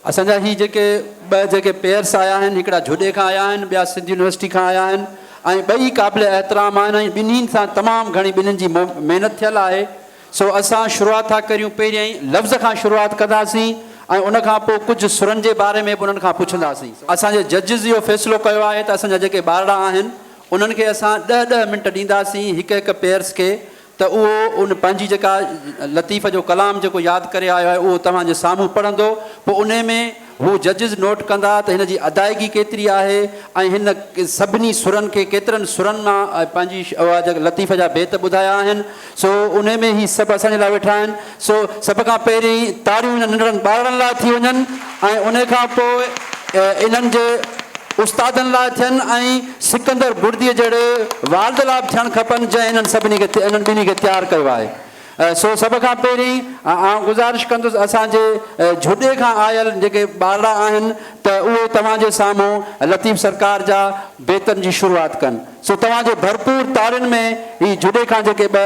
اسان جا هي جيڪي ٻه جيڪي پيئرس آيا آهن هڪڙا جهوڏي کان آيا آهن ٻيا سنڌ يونيورسٽي کان آيا آهن ۽ ٻئي قابل احترام آهن ۽ ٻنهين سان تمام گهڻي ٻنهين جي محنت ٿيل آهي سو اسان شروعات ٿا ڪريون پهريائين لفظ کان شروعات ڪنداسين ۽ ان کان پوء ڪجهه سرن جي باري ۾ به انهن کان پڇنداسين اسان جي ججز اهو فيصلو ڪيو آهي ته اسان جا جيڪي ٻارڙا آهن انهن کي اسان ڏهه ڏهه منٽ ڏينداسين هڪ هڪ پيئرس کي ته اهو ان پنهنجي جيڪا لطيف جو ڪلام جيڪو ياد ڪري آيو آهي اهو توهان جي سامهون پڙهندو پوء انهي ۾ هو ججز نوٽ ڪندا ته هن جي ادائگي ڪيتري آهي ۽ هن سڀني سرن کي ڪيترن سرن مان پنهنجي لطيف جا بيت ٻڌايا آهن سو انهي ۾ هي سڀ اسان جي لاء ويٺا آهن. سو سڀ کان پهرين تاڙيون انهن ننڍڙن ٻارڙن لاء ٿي وڃن ۽ انهي کان پوء انهن جي استادن لاء ٿين ۽ سڪندر بڙديء جهڙي والد لاء به ٿيڻ کپن جنهن انهن سڀني کي انهن ٻنهي کي تيار ڪيو آهي. سو سڀ کان پهرين آئون گذارش ڪندس اسان جي جهڏي کان آيل جيڪي ٻارڙا آهن ته اهي توهان جي سامهون لطيف سرڪار جا بيتن جي شروعات ڪن. سو توهان جي ڀرپور تاڙين ۾ هي جهڏي کان جيڪي ٻه.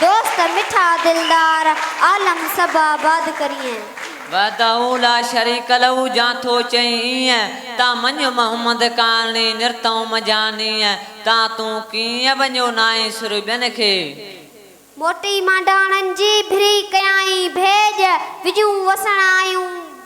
دوست مٺا دلدار عالم سڀ آباد ڪريئن. وحده لا شريڪ له جان ٿو چئين ايئن، تان مڃ محمد ڪارڻي نرتئون منجهان نيئن، تان تون ڪيئن وڃيو ناهين سر ٻين کي. موٽي مانڊاڻن جي ڀري ڪيائين ڀيڄ، وڄون وسڻ آيون.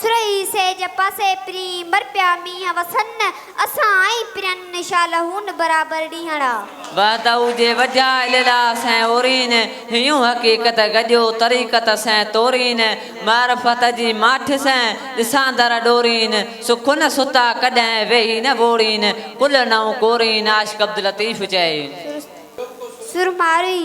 سرهي سيج پاسي پرين مرپيا مينهن وسن اسان ۽ پرين شالهون برابر ڏينهڙا. وحدهو جي وجهه لله سين اورين هيون حقيقت گڏيو طريقت سين تورين معرفت جي ماٺ سين ڏساندر ڏورين سکن ستا ڪڏهن ويهي نه وورين ڪل نئون ڪورين عاشق عبداللطيف چئي. سرمارئي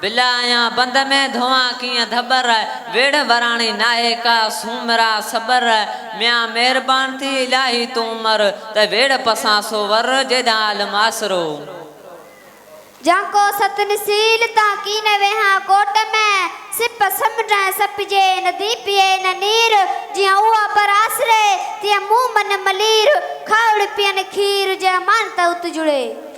بلا ايان بند ۾ ڌوئان ڪيئن ڌٻر، ويڙهه وراڻي ناهي ڪا سومرا صبر، ميان مهربان ٿي الاهي تون امر، ته ويڙهه پسان سو ور، جيڏانهن عالم آسرو. جان ڪو ست نسيل تان ڪين ويهان ڪوٽ ۾، سپ سمنڊ ۽ سپجي ندي پيئي نه نير، جيئن هو ابر آسري، تيئن مون من ملير، کاهوڙ پيئن کير، جي امانت ات جڙي.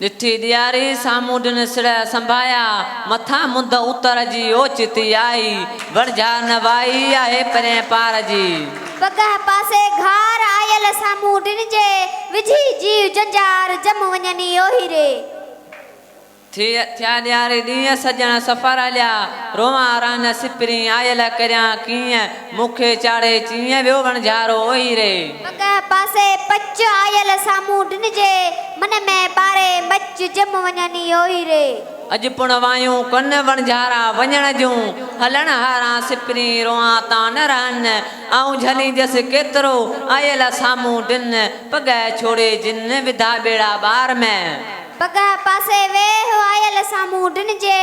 ڏٺي ڏياري سامهون ڏن سڙهه سنڀايا، مٿان منڌ اتر جي اوچتي آئي، وڻجهار نه وائي آهي پرين پار جي. پگهه پاسي گهار آيل سامهون ڏن جي، وجهي جيو جنجهار جم وڃن اي اوهي ري. ٿي ٿيا ڏياري ڏينهن سڄڻ سفر هليا، روئان رهن سپرين آيل ڪريان ڪيئن. مون کي چاڙهي چيئين ويو وڻجارو اوهي ري. پڳهه پاسي پچ آيل سامهون ڊنجي من ۾ ٻاري مچ جم وڃني اوهي ري. اڄ پڻ وايون ڪن وڻجارا وڃڻ جون هلڻ هاران سپرين روئان تان نه رهن آئون جهلينجس ڪيترو آيل سامهون ڊن پڳهه ڇوڙي جن وڌا ٻيڙا ٻار ۾. پڳهه پاسي ويهه آيل سامهون ڊنجي.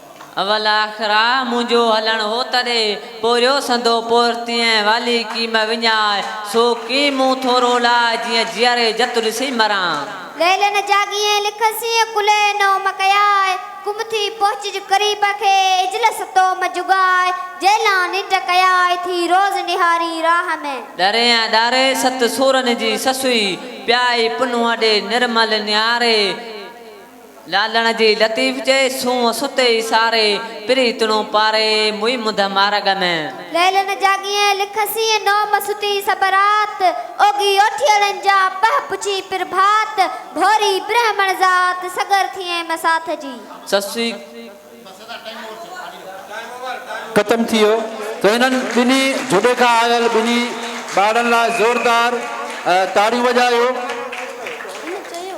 اول آخر آ منهنجو هلڻ هو تڏي، پورهيو سندو پورهتي ۽ والي ڪيم وڃائي، سو ڪيم مون ٿورو لاء جيئن جيئري جت ڏسي مران. ليلن جاڳي ۽ لکن سين ڪلهي نوم ڪياء، ڪم ٿي پهچج قريب کي اجلس توم جڳاء، جيلان ننڊ ڪياء ٿي روز نهاري راهه ۾. ڏري ۽ ڏاري ست سورن جي سسئي، پيائي پنهون ڏي نرمل نهاري. لالڻ جي لطيف چئي، سونهن ستي ئي ساري، پريتڻو پاري، موئي منڌ مارڳ ۾. ليلن جاڳيئي لک سين نوم ستي سڀ رات، اوڳي اوٺيئڙن جا پهه پڇي پرڀات، ڀوري برهمڻ ذات سڳر ٿيئي مساٿ جي. سسئي. ختم ٿي ويو ته هنن ٻنهي جهوڏي کان آيل ٻنهي ٻارڙن لاء زوردار تاڙيون وڄايو. هن چيو.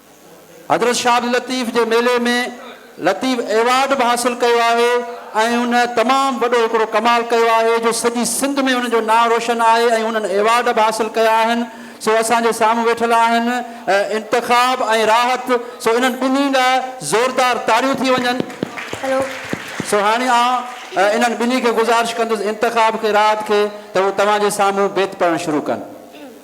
حضرت شاھ علي لطيف جي ميلي ۾ لطيف ايوارڊ به حاصل ڪيو آهي ۽ هن تمام وڏو هڪڙو ڪمال ڪيو آهي جو سڄي سنڌ ۾ هن جو نانء روشن آهي ۽ هنن ايوارڊ به حاصل ڪيا آهن سو اسان جي سامهون ويٺل آهن انتخاب ۽ راحت سو انهن ٻنهي لاء زوردار تاڙيون ٿي وڃن سو هاڻي آئون انهن ٻنهي کي گذارش ڪندس انتخاب کي راحت کي ته هو توهان جي سامهون بيت پڙهڻ شروع ڪن.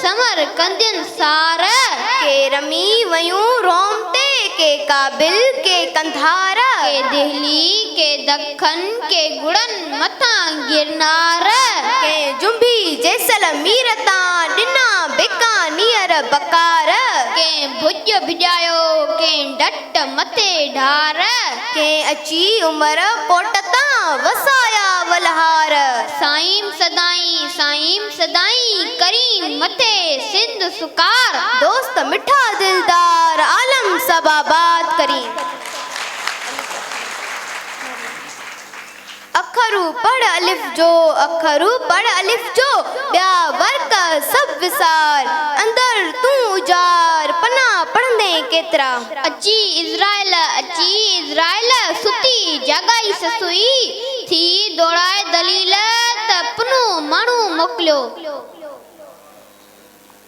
سمر ڪندين سار، ڪي رمي ويون روم تي، ڪي ڪابل، ڪي قنڌار. ڪي دهلي، ڪي دکن، ڪي گڙن مٿان گرنار. ڪنهن جنبي جيسلمير تان، ڏنا بيڪانيئر بڪار. ڪنهن ڀڄ ڀڄايو، ڪنهن ڊٽ ٽ مٿي ڍار، ڪنهن اچي عمر پوٽ تان، وسايا ولهار. سائين سدائين، سائين سدائين، ڪرين مٿي سنڌ سڪار. دوست مٺا دلدار، عالم سڀ آباد ڪرين. اکرو پڙهه الف جو اکرو پڙهه الف جو ٻيا ورق سڀ وسار اندر تون اجار پناهه پڙهندين ڪيترا. اچي عزرائيل اچي عزرائيل ستي جاڳائي سسئي ٿي دوڙائي دليل ته پنهون ماڻهو موڪليو.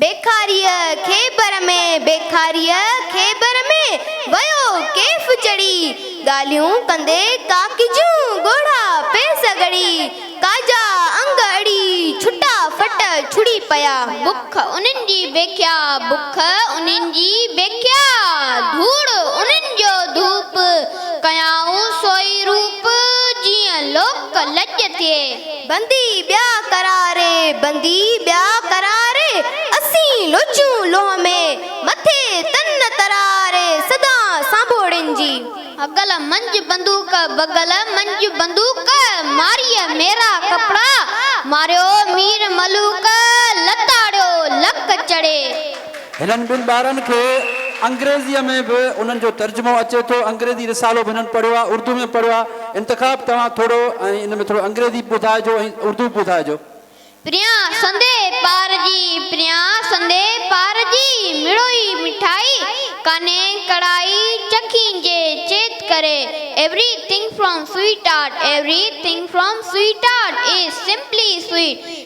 بيڪاريء خيبر ۾، بيڪاريء خيبر ۾، ويو ڪيف چڙهي، ڳالهيون ڪندي ڪاڪي جون ڳوڙها پيس ڳڙي، ڪاڄا انگ اڙي، ڇٽا ڦٽ ڇڙي پيا. بک انهن جي بکيا، بک انهن جي بکيا، ڌوڙ انهن جو ڌوپ، ڪيائون سوئي روپ، جيئن لوڪ لڄ ٿئي. بندي ٻيا قراري، بندي ٻيا قراري، اسين لوچون لوهه ۾، مٿي تن تراري، سدا سانڀوڙين جي. هڪل منجهه بندوق، بغل منجهه بندوق، ماريء ميرا ڪپڙا، ماريو مير ملوڪ، لتاڙيو لڪ چڙهي. هنن ٻن ٻارن کي انگريزيء ۾ به انهن جو ترجمو اچي ٿو. انگريزي رسالو به هنن پڙهيو آهي، اردو ۾ پڙهيو آهي. انتخاب توهان ٿورو ۽ ان ۾ ٿورو انگريزي به ٻڌائجو ۽ اردو به ٻڌائجو. پريان سندي پار جي پريان سندي پار جي مڙوئي مٺائي ڪانهي ڪڙائي چکين جي چيت ڪري everything from Sweetart everything from Sweetart is simply sweet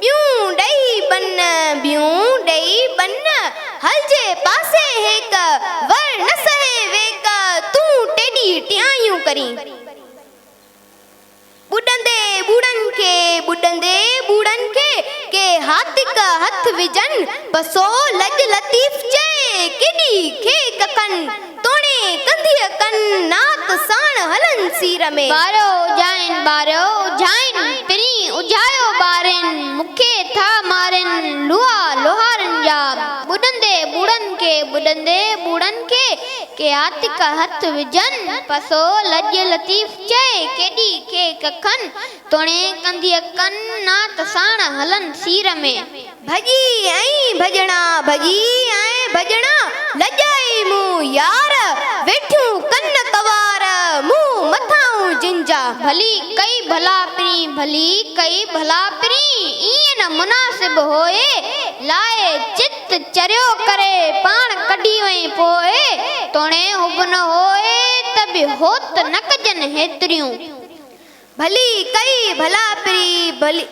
ٻيون ڏئي ٻن، ٻيون ڏئي ٻن، هلجي پاسي هيڪ، ور نه سهي ويڪ، تون ٽيڏي ٽيايون ڪرين. ٻڏندي ٻوڙن کي، ٻڏندي ٻوڙن کي، ڪي هاتڪ هٿ وجهن، پسو لڄ لطيف چئي، ڪيڏي کي ڪکن. توڻي ڪنڌيء ڪن نات ساڻ هلن سير ۾. ٻاريو اجهائين ٻاريو اجهائين پرين اجهايو ٻارين مون کي ٿا مارين لوها لوهارن جا ٻڏندي ٻوڙن کي ٻڏندي ٻوڙن کي ڪي عاتق هٿ وجهن پسو لڄ لطيف چئي ڪيڏي کي ڪکن توڻي ڪنڌيء ڪن نات ساڻ هلن سير ۾. ڀڄي ۽ ڀڄڻا ڀڄي ۽ ڀڄڻا لڄائي مون يار، ويٺيون ڪن ڪنوار مون مٿاهون جن جا. ڀلي ڪئي ڀلا پرين ڀلي ڪئي ڀلا پرين ايئن نه مناسب هوء، لاء چت چريو ڪري پاڻ ڪڍي وئين پوء، توڻي هوبنهه هوء ته به هوت نه ڪجن هيتريون. ڀلي ڪئي ڀلا پري ڀلي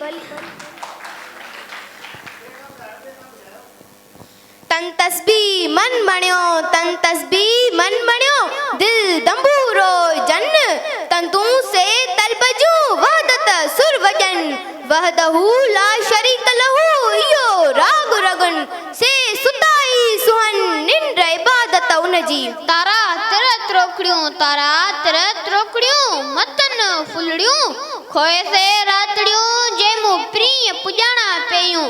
تن تسبيح من مڻيو تن تسبيح من مڻيو دل دنبو روئجن تندون سي طلب جون وحدت سر وڄن وحده لا شريڪ له اهو راڳ رڳن سي ستا ئي سونهن ننڊ عبادت ان جي. تارا تر تروڪڙيون تارا تر تروڪڙيون متن ڦلڙيون کوهي سي راتڙيون جي مون پرينء پڄاڻا پيون.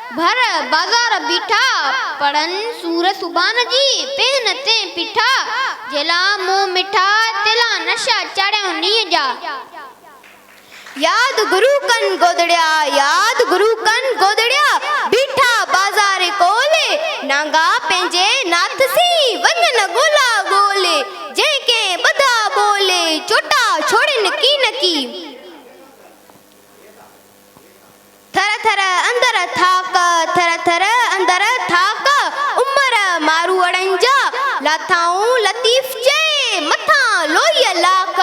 ڀر بازار بيٺا، پڙهن سور سوڀان جي، پيهن تين پيٺا، جيلا منهن مٺا، تيلا نشا چاڙهيائون نينهن جا. ياد گرو ڪن گودڙيا، ياد گرو ڪن گودڙيا، بيٺا بازار ڪول، نانگا پنهنجي ناٿ سين، وڃن ڳولا ڳول، جنهن ڪنهن ٻڌا ٻول، چوٽا ڇوڙين ڪين ڪي. ٿر ٿر اندر ٿاڪ، ٿر ٿر اندر ٿاڪ، عمر ماروئڙن جا، لاٿائون لطيف چئي، مٿان لوئيء لاک،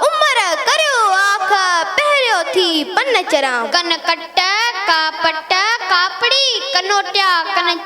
عمر ڪريو آک، پهريو ٿي پن چران. ڪن ڪٽ، ڪاپٽ، ڪاپڙي، ڪنوٽيا، ڪن.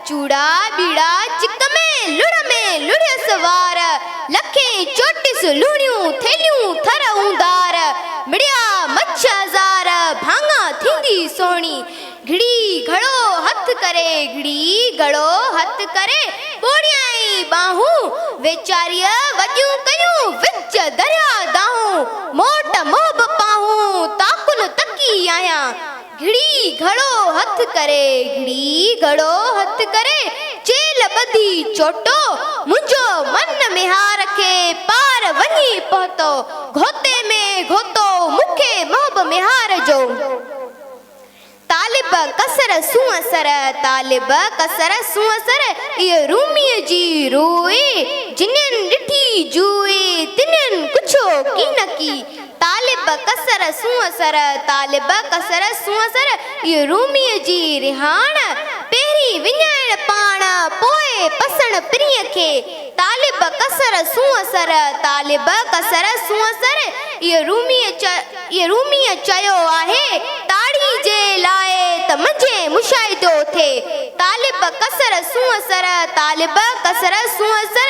چوڙا ٻيڙا چڪ ۾ لڙ ۾ لڙيس وار، لکين چوٽيس لوڻيون ٿيلهيون ٿر اوندار، مڙيا مڇ هزار ڀاڱا ٿيندي سهڻي، گهڙي گهڙو هٿ ڪري گهڙي گهڙو هٿ ڪري، ٻوڙيائين ٻانهون ويچاريء وڏيون ڪيون وچ درياء دانهون، موٽ منهن به پانهون تاڪن تڪي آهيان، گهڙي گهڙو هٿ ڪري، گهڙي گهڙو هٿ ڪري، چيلهه ٻڌي چوٽو، منهنجو من ميهار کي پار وڃي پهتو، گهوتي ۾ گهوتو مون کي محب ميهار جو. طالب قصر سونهن سر، طالب قصر سونهن سر، اهو روميء جي روء، جنين ڏٺي جوء، تنين ڪڇو ڪين ڪي، طالب قصر سونهن سر، طالب قصر سونهن سر، اهو روميء جي رهاڻ، پهرين وڃائڻ پاڻ، پوء پسڻ پرينء کي، طالب قصر سونهن سر، طالب قصر سونهن سر، اهو روميء اهو روميء چيو آهي، تاڙي جي لاء ته منجهين مشاهدو ٿئي، طالب قصر سونهن سر، طالب قصر سونهن سر،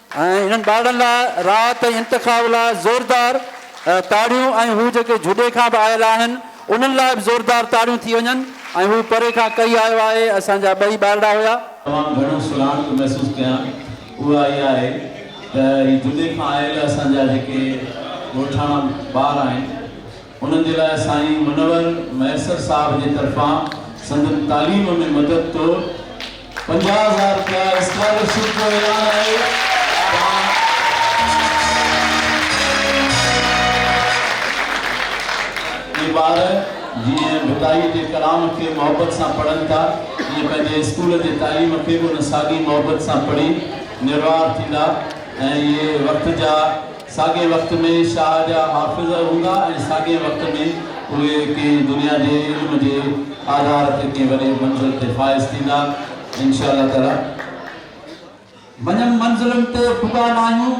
۽ انهن ٻارڙن لاء راء تي انتخاب لاء زوردار تاڙيون ۽ هو جيڪي جهڏي کان به آيل آهن انهن لاء به زوردار تاڙيون ٿي وڃن ۽ هو پري کان ڪهي آيو آهي اسان جا ٻئي ٻارڙا هيا. تمام گهڻو سڃاڻپ محسوس ڪيان اها اها آهي ته هي جهڏي کان آيل اسان جا جيڪي ڳوٺاڻا ٻار آهن. انهن جي لاء سائين منور مهيسر صاحب جي طرفان سندن تعليم ۾ مدد طور پنجاهه هزار رپيا اسڪالرشپ جو اعلان آهي تان اهي ٻار جيئن ڀٽائي جي ڪلام کي محبت سان پڙهن ٿا تيئن پنهنجي اسڪول جي تعليم کي به ان ساڳي محبت سان پڙهي نروار ٿيندا ۽ اهي وقت جا ساڳئي وقت ۾ شاهه جا حافظ هوندا ۽ ساڳئي وقت ۾ اهي ڪنهن دنيا جي علم جي آڌار تي ڪنهن وڏي منزل تي فائز ٿيندا انشاء الله تعالي منجهن منزلن تي پڳا ناهيون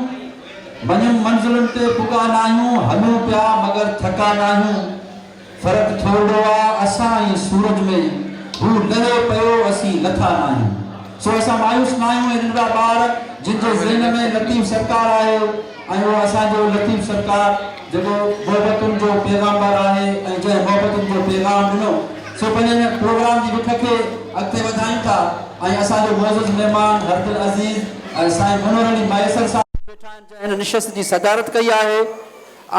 منجهن منزلن تي پڳا ناهيون هلون پيا مگر ٿڪا ناهيون. فرق ٿورڙو آ اسان ۽ سورج ۾ هو لهي پيو اسين لٿا ناهيون سو اسان مايوس ناهيون هي ننڍڙا ٻار جن جي ذهن ۾ لطيف سرڪار آهي ۽ اهو اسان جو لطيف سرڪار جيڪو محبتن جو پيغامبر آهي ۽ جنهن محبتن جو پيغام ڏنو سو پنهنجي هن پروگرام جي رخ کي اڳتي وڌايون ٿا ۽ اسان جو معزز مهمان هردل عزيز سائين منور علي مهيسر صاحب ويٺا آهن جنهن هن نشست جي صدارت ڪئي آهي.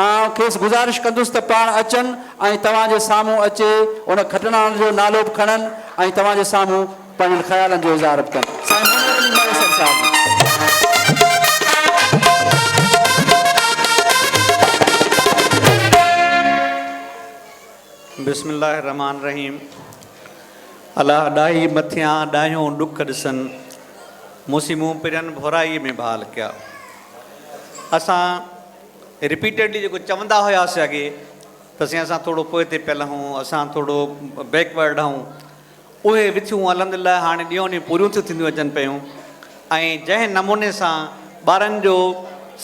آئون کيس گذارش ڪندس ته پاڻ اچن ۽ توهان جي سامهون اچي ان کٽڻهارن جو نالو به کڻن ۽ توهان جي سامهون پنهنجن خيالن جو اظهار به ڪن. سائين محمد علي مهيسر صاحب. بسم الله الرحمٰن الرحيم الا ڏاهي مٿيان ڏاهيون ڏک ڏسن مون سين مون پرين ڀورائي ۾ ڀال ڪيا اسان رپيٽيڊلي جيڪو چوندا هياسي اڳي ته سائين اسان ٿورڙو پوئتي پيل آهون اسان ٿورڙو بيڪ ورڊ آهون اهي وٿيون الحمدلله هاڻي ڏينهون ڏينهن پوريون ٿيون ٿينديون اچن پيون ۽ جنهن نموني سان ٻارن جو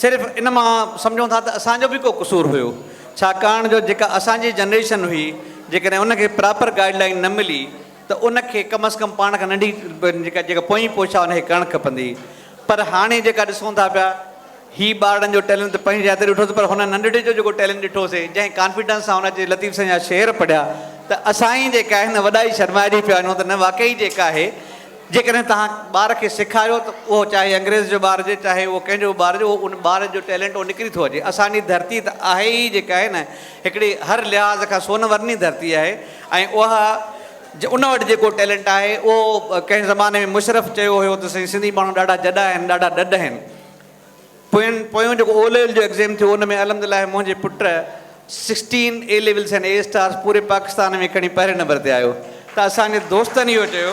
صرف ان مان سمجهون ٿا ته اسان جو به ڪو قصور هيو ڇاڪاڻ جو جيڪا اسان جي جنريشن هئي جيڪڏهن ان کي پراپر گائيڊ لائين نه ملي ته ان کي ڪم از ڪم پاڻ کان ننڍي جيڪا جيڪا پوئين پوش آهي ان کي ڪرڻ کپندي پر هاڻي جيڪا ڏسون ٿا پيا هي ٻارڙن جو ٽيلنٽ ته پنهنجي جاء تي ڏٺوسي پر هن ننڍڙي جو جيڪو ٽيلنٽ ڏٺوسي جنهن ڪانفيڊنس سان هن اچي لطيف سائين جا شعر پڙهيا ته اسان ئي جيڪا آهي هن وڏائي شرمائجي پيا وڃون ته نه واقعي جيڪا آهي جيڪڏهن توهان ٻار کي سيکاريو ته اهو چاهي انگريز جو ٻار هجي چاهي اهو ڪنهن جو به ٻار هجي اهو ان ٻار جو ٽيلنٽ اهو نڪري ٿو اچي اسان جي ڌرتي ته آهي ئي جيڪا آهي نه هڪڙي هر لحاظ کان سون ورني ڌرتي آهي ۽ اها جو ان وٽ جيڪو ٽيلنٽ آهي اهو ڪنهن زماني ۾ مشرف چيو هيو ته سائين سنڌي ماڻهو ڏاڍا جڏا آهن ڏاڍا ڏڍ آهن پوين پويون جيڪو او ليول جو ايگزيم ٿيو ان ۾ الحمدلله منهنجي پٽ sixteen A levels ۽ A stars پوري پاڪستان ۾ کڻي پهرين نمبر تي آيو ته اسان جي دوستن اهو چيو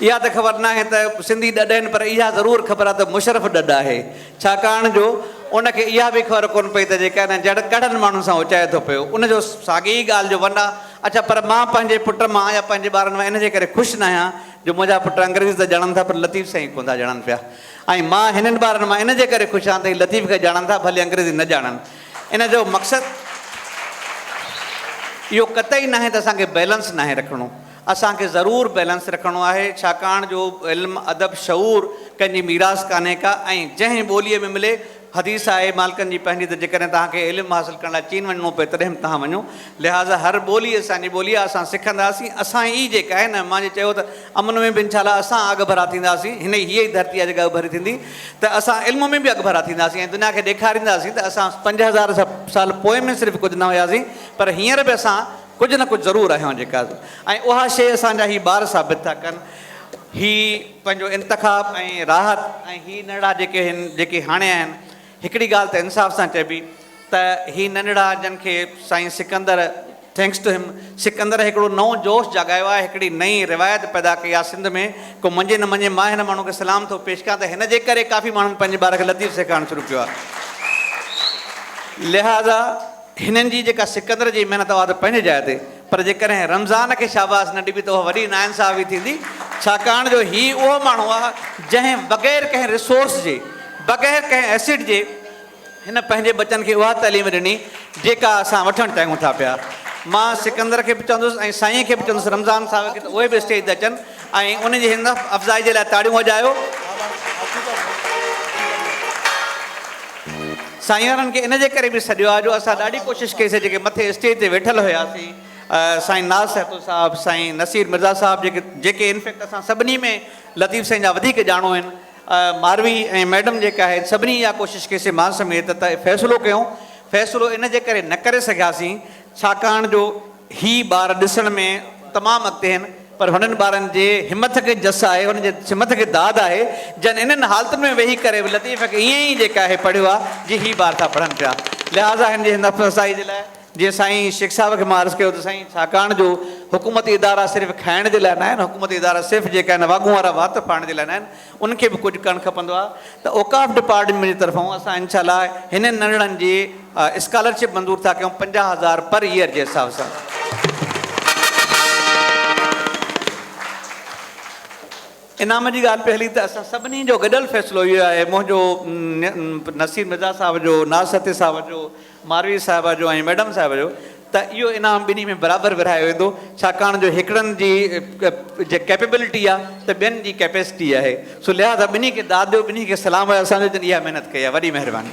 اها ته خبر ناهي ته سنڌي ڏڍ آهن پر اها ضرور خبر آهي ته مشرف ڏڍ آهي ڇاڪاڻ جو ان کي اها به خبر ڪونه پئي ته جيڪا هن جهڙن ڪهڙن ماڻهن سان اچائي ٿو پيو، ان جو ساڳي ئي ڳالهه جو ون آ، اڇا پر مان پنهنجي پٽ مان يا پنهنجي ٻارن مان ان جي ڪري خوش ناهيان جو منهنجا پٽ انگريزي ته ڄاڻن ٿا پر لطيف سائين ڪونه ٿا ڄاڻن پيا ۽ مان هنن ٻارن مان ان جي ڪري خوش آهيان ته هي لطيف کي ڄاڻن ٿا ڀلي انگريزي نه ڄاڻن. ان جو مقصد اهو قطعي ناهي ته اسان کي بيلنس ناهي رکڻو. اسان کي ضرور بيلنس رکڻو آهي، ڇاڪاڻ جو علم، ادب، شعور ڪنهن جي ميراث ڪانهي ڪا ۽ جنهن ٻوليء ۾ ملي، حديث آهي مالڪن جي پنهنجي ته جيڪڏهن توهان کي علم حاصل ڪرڻ لاء چين وڃڻو پئي تڏهن به توهان وڃو، لهٰذا هر ٻولي اسان جي ٻولي آهي، اسان سکنداسين، اسان ئي جيڪا آهي نه مان جي چيو ته امن ۾ به انشاء الله اسان اڳڀرا ٿينداسين، هن ئي هيء ئي ڌرتي آهي جيڪا اڳڀري ٿيندي ته اسان علم ۾ به اڳڀرا ٿينداسين ۽ دنيا کي ڏيکارينداسين ته اسان پنج هزار سال پوء ۾ صرف ڪجهه نه هياسين پر هينئر به اسان ڪجهه نه ڪجهه ضرور آهيان جيڪا ۽ اها شيء اسان جا هي ٻار ثابت ٿا ڪن. هي پنهنجو انتخاب ۽ راحت ۽ هي ننڍڙا جيڪي هن جيڪي هاڻي آهن هڪڙي ڳالهه ته انصاف سان چئبي ته هي ننڍڙا جن کي سائين Sikandar Thanks to him Sikandar هڪڙو نئون جوش جاڳايو آهي هڪڙي نئين روايت پيدا ڪئي آهي سنڌ ۾ ڪو مڃي نه مڃي مان هن ماڻهو کي سلام ٿو پيش ڪيان ته هن جي ڪري ڪافي ماڻهن پنهنجي ٻار کي لطيف سيکارڻ شروع ڪيو آهي لهذا هنن جي جيڪا سڪندر جي محنت اها ته پنهنجي جاء تي پر جيڪڏهن رمضان کي شاباس نه ڏبي ته اها وڏي ناانصافي ٿيندي ڇاڪاڻ جو هي اهو ماڻهو آهي جنهن بغير ڪنهن ريسورس جي بغير ڪنهن ايسيڊ جي هن پنهنجي ٻچن کي اها تعليم ڏني جيڪا اسان وٺڻ چاهيون ٿا پيا مان سڪندر کي به چوندس ۽ سائين کي به چوندس رمضان صاحب کي ته اهي به اسٽيج تي اچن ۽ انهن جي همت افزائي جي لاء تاڙيون وڄايو. سائين انهن کي ان جي ڪري به سڏيو آهي جو اسان ڏاڍي ڪوشش ڪئي سي جيڪي مٿي اسٽيج تي ويٺل هياسين سائين ناز سهتو صاحب سائين نصير مرزا صاحب جيڪي جيڪي ان فيڪٽ اسان سڀني ۾ لطيف سائين جا وڌيڪ ڄاڻو آهن ماروي ۽ ميڊم جيڪي آهن سڀني اها ڪوشش ڪئي سي مان سميت ته فيصلو ڪيون فيصلو ان جي ڪري نه ڪري سگهياسين ڇاڪاڻ جو هي ٻار ڏسڻ ۾ تمام اڳتي هين پر هنن ٻارن جي همٿ کي جس آهي، هنن جي همٿ کي داد آهي، جن انهن حالتن ۾ ويهي ڪري به لطيف کي ائين ئي جيڪا هي پڙهيو آهي، جي هي ٻار ٿا پڙهن پيا. لهٰذا هن جي هن حوصلا افزائي جي لاء جيئن سائين شيخ صاحب کي مان عرض ڪيو ته سائين ڇاڪاڻ جو حڪومتي ادارا صرف کائڻ جي لاء ناهن، حڪومتي ادارا صرف جيڪا هن واڳون وارا وات ڦاڙڻ جي لاء ناهن، ان کي به ڪجهه ڪرڻ کپندو آهي ته اوقاف ڊپارٽمينٽ جي طرفان اسان انشاء الله هنن ننڍڙن جي اسڪالرشپ منظور ٿا ڪيون پنجاهه هزار پر ييئر جي حساب سان انعام جي ڳالهه پئي هلي ته اسان سڀني جو گڏيل فيصلو اهو آهي منهنجو نصير مرزا صاحب جو ناز سهتي صاحب جو ماروي صاحبه جو ۽ ميڊم صاحبه جو ته اهو انعام ٻنهي ۾ برابر ورهايو ويندو ڇاڪاڻ جو هڪڙن جي جي ڪيپيبلٽي آهي ته ٻين جي ڪيپيسٽي آهي سو لهذا ٻنهي کي داد ڏيو ٻنهي کي سلام آهي اسان جو جن اها محنت ڪئي آهي وڏي مهرباني.